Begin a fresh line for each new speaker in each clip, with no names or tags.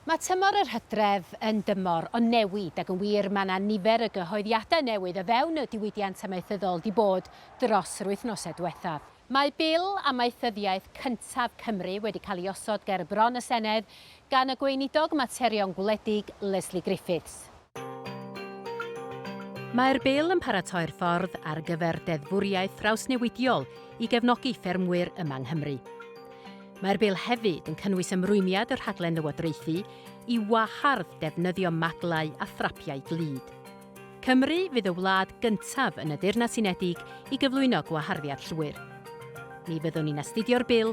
Mae tymor yr hydref yn dymor o newid ac yn wir mae 'na nifer y gyhoeddiadau newydd o fewn y diwydiant amaethyddol 'di bod dros yr wythnosau diwethaf. Mae Bil Amaethyddiaeth cyntaf Cymru wedi cael ei osod ger bron y Senedd gan y Gweinidog Materion Gwledig, Lesley Griffiths. Mae'r Bil yn paratoi'r ffordd ar gyfer deddfwriaeth drawsnewidiol i gefnogi ffermwyr yma yng Nghymru. Mae'r Bil hefyd yn cynnwys ymrwymiad y rhaglen lywodraethu i wahardd defnyddio maglau a thrapiau glud. Cymru fydd y wlad gyntaf yn y Deyrnas Unedig i gyflwyno gwaharddiad llwyr. Mi fyddwn ni'n astudio'r Bil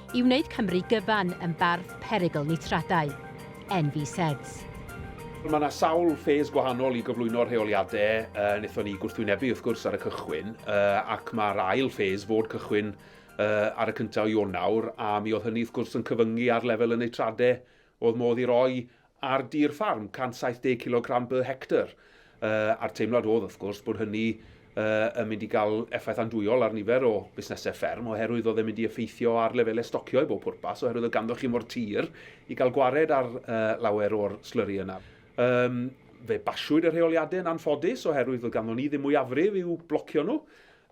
i wneud Cymru gyfan yn barth perygl nitradau. NVSEDS.
Mae yna sawl ffes gwahanol i gyflwyno'r rheoliadau uh, wnaethon ni gwrthwynebu wrth gwrs ar y cychwyn uh, ac mae'r ail ffes fod cychwyn uh, ar y cyntaf o Ionawr a mi oedd hynny wrth gwrs yn cyfyngu ar lefel y neitradau oedd modd i roi ar dir ffarm, 170 cilogram per hectar, a'r teimlad oedd, wrth gwrs, bod hynny yn mynd i gael effaith andwyol ar nifer o fusnesau fferm, oherwydd oedd e'n mynd i effeithio ar lefelau stocio i bob pwrpas, oherwydd oedd ganddoch chi mo'r tir i gael gwared ar lawer o'r slyri yna. Fe basiwyd y rheoliadau yn anffodus, oherwydd oedd ganddo ni ddim mwyafrif i'w blocio nhw,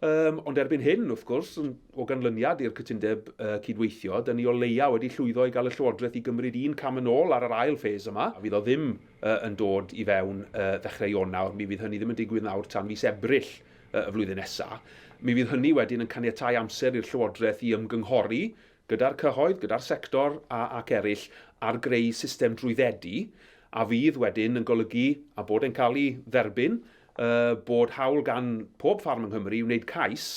Yym, ond erbyn hyn, wrth gwrs, o ganlyniad i'r cytundeb cydweithio, 'da ni o leia' wedi llwyddo i gael y Llywodraeth i gymryd un cam yn ôl ar yr ail phase yma, a fydd o ddim yn dod i fewn ddechrau Ionawr, mi fydd hynny ddim yn digwydd nawr tan fis Ebrill y flwyddyn nesa'. Mi fydd hynny wedyn yn caniatáu amser i'r Llywodraeth i ymgynghori gyda'r cyhoedd, gyda'r sector a ac eraill ar greu system drwyddedu a fydd wedyn yn golygu a bod e'n cael ei dderbyn, bod hawl gan pob ffarm yng Nghymru wneud cais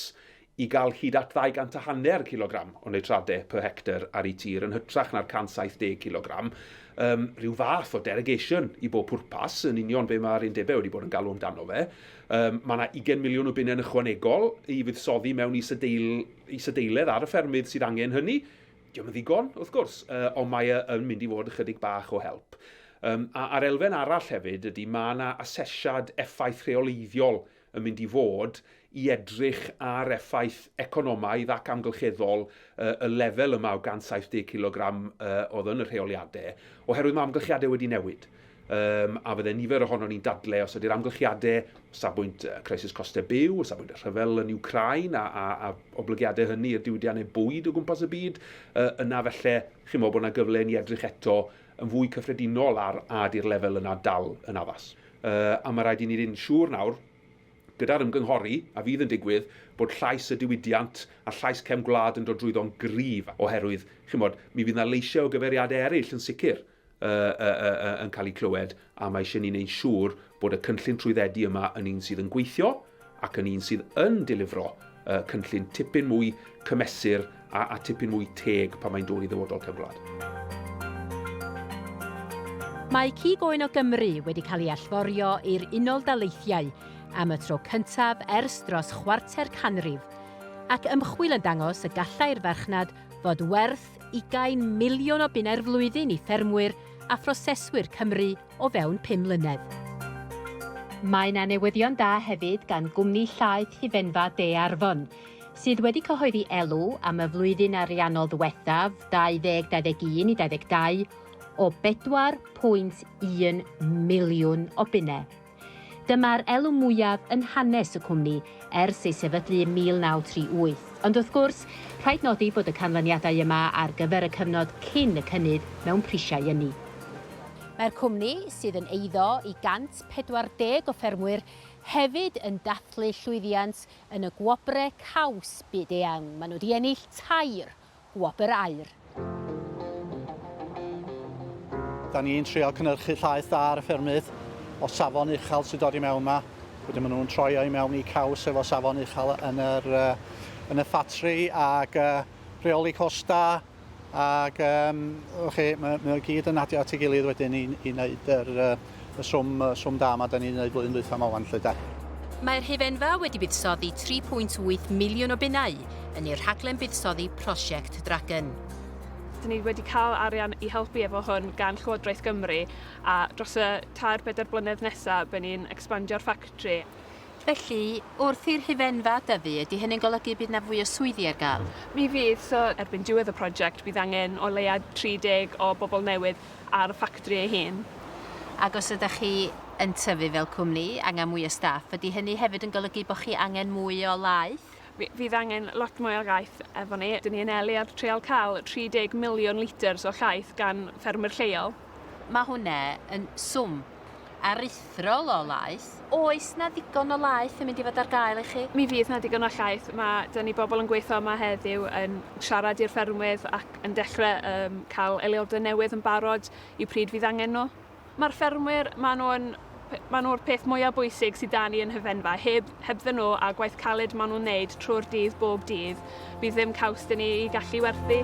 i gael hyd at ddau gant a hanner cilogram o nitrate per hectar ar eu tir yn hytrach na'r 170 cilogram, rhyw fath o derogation i bob pwrpas, yn union be mae'r undebau wedi bod yn galw amdano fe. Mae 'na ugain miliwn o bunnau yn ychwanegol i fuddsoddi mewn is-adeilad. isadeiledd ar y ffermydd sydd angen hynny. Dio'm yn ddigon, wrth gwrs, yy, ond mae e yn mynd i fod ychydig bach o help. Um, a, a'r elfen arall hefyd ydy mae yna asesiad effaith rheoleiddiol yn mynd i fod i edrych ar effaith economaidd ac amgylcheddol uh, y lefel yma o 170 kg uh, oedd yn y rheoliadau, oherwydd mae amgylchiadau wedi newid. Yym, a fydde nifer ohonon ni'n dadle os ydy'r amgylchiade o safbwynt y crisis coste byw, o safbwynt y rhyfel yn Ukraine a, a, a oblygiade hynny i'r diwydiannau bwyd o gwmpas y byd, yy, yna felly, chi'n meddwl bod yna gyfle i ni edrych eto yn fwy cyffredinol ar a ydy'r lefel yna dal yn addas. Yy, a mae rhaid i ni fynd siŵr nawr, gyda'r ymgynghori a fydd yn digwydd, bod llais y diwydiant a llais cefn gwlad yn dod drwyddo'n gryf, oherwydd, chi'n bod, mi fydd yna leisiau o gyfeiriadau eraill yn sicr, yn cael eu clywed, a mae eisiau ni wneud siŵr bod y cynllun trwyddedu yma yn un sydd yn gweithio ac yn un sydd yn delifro cynllun tipyn mwy cymesur a, a tipyn mwy teg pan mae'n dod i ddyfodol cefn gwlad.
Mae cig oen o Gymru wedi cael ei allforio i'r Unol Daleithiau am y tro cyntaf ers dros chwarter canrif, ac ymchwil yn dangos y gallai'r farchnad fod werth ugain miliwn o bunnau'r flwyddyn i ffermwyr a phroseswyr Cymru o fewn pum mlynedd. Mae 'na newyddion da hefyd gan gwmni llaeth Hufenfa De Arfon, sydd wedi cyhoeddi elw am y flwyddyn ariannol ddiwethaf, 2021 i 22, o 4.1 miliwn o bunnau. Dyma'r elw mwyaf yn hanes y cwmni ers ei sefydlu ym 1938. Ond wrth gwrs, rhaid nodi bod y canlyniadau yma ar gyfer y cyfnod cyn y cynnydd mewn prisiau ynni. Mae'r cwmni, sydd yn eiddo i 140 o ffermwyr, hefyd yn dathlu llwyddiant yn y gwobre caws byd-eang. Maen nhw 'di ennill tair Wobr Aur.
Da ni'n trial cynnyrchu llaeth da ar y ffermydd o safon uchel sy'n dod i mewn yma. Wedyn maen nhw'n troi o i mewn i caws efo safon uchel yn yr, yn y ffatri ac rheoli costa ac um, chi, mae, mae o gyd yn adio at ei gilydd wedyn i, i wneud yr, y swm, swm da yma da ni'n wneud flwyddyn dwytha yma wan 'lly de. Mae'r
hufenfa wedi buddsoddi 3.8 miliwn o bunnau yn i'r rhaglen buddsoddi Prosiect Dragon. Dyn ni
wedi cael arian i helpu efo hwn gan Llywodraeth Gymru a dros y tair pedair blynedd nesa by ni'n expandio'r ffactri. Felly,
wrth i'r hufenfa dyfu, ydy hynny'n golygu bydd na fwy o swyddi ar gael? Mi fydd, so
erbyn diwedd y prosiect bydd angen o leia 30 o bobl newydd ar y ffactri ei hun. Ac os ydych
chi yn tyfu fel cwmni, angen mwy o staff. Ydy hynny hefyd yn golygu bod chi angen mwy o laeth? Fydd angen
lot mwy o laeth efo ni. Dyn ni yn eli ar trial cael 30 miliwn litr o laeth gan ffermwyr lleol. Mae hwnna
yn swm. aruthrol o laeth. Oes 'na ddigon o laeth yn mynd i fod ar gael i chi? Mi fydd 'na ddigon o llaeth.
Ma'... 'da ni bobl yn gweithio yma heddiw yn siarad i'r ffermwydd ac yn dechre yym cael eliode newydd yn barod i pryd fydd angen nhw. Ma'r ffermwyr, ma' nhw yn p- ma' nhw'r peth mwya' bwysig sy' 'da ni yn Hyfenfa. Heb hebddyn nhw a gwaith caled ma' nhw'n neud trwy'r dydd bob dydd bydd ddim caws 'da ni i gallu werthu.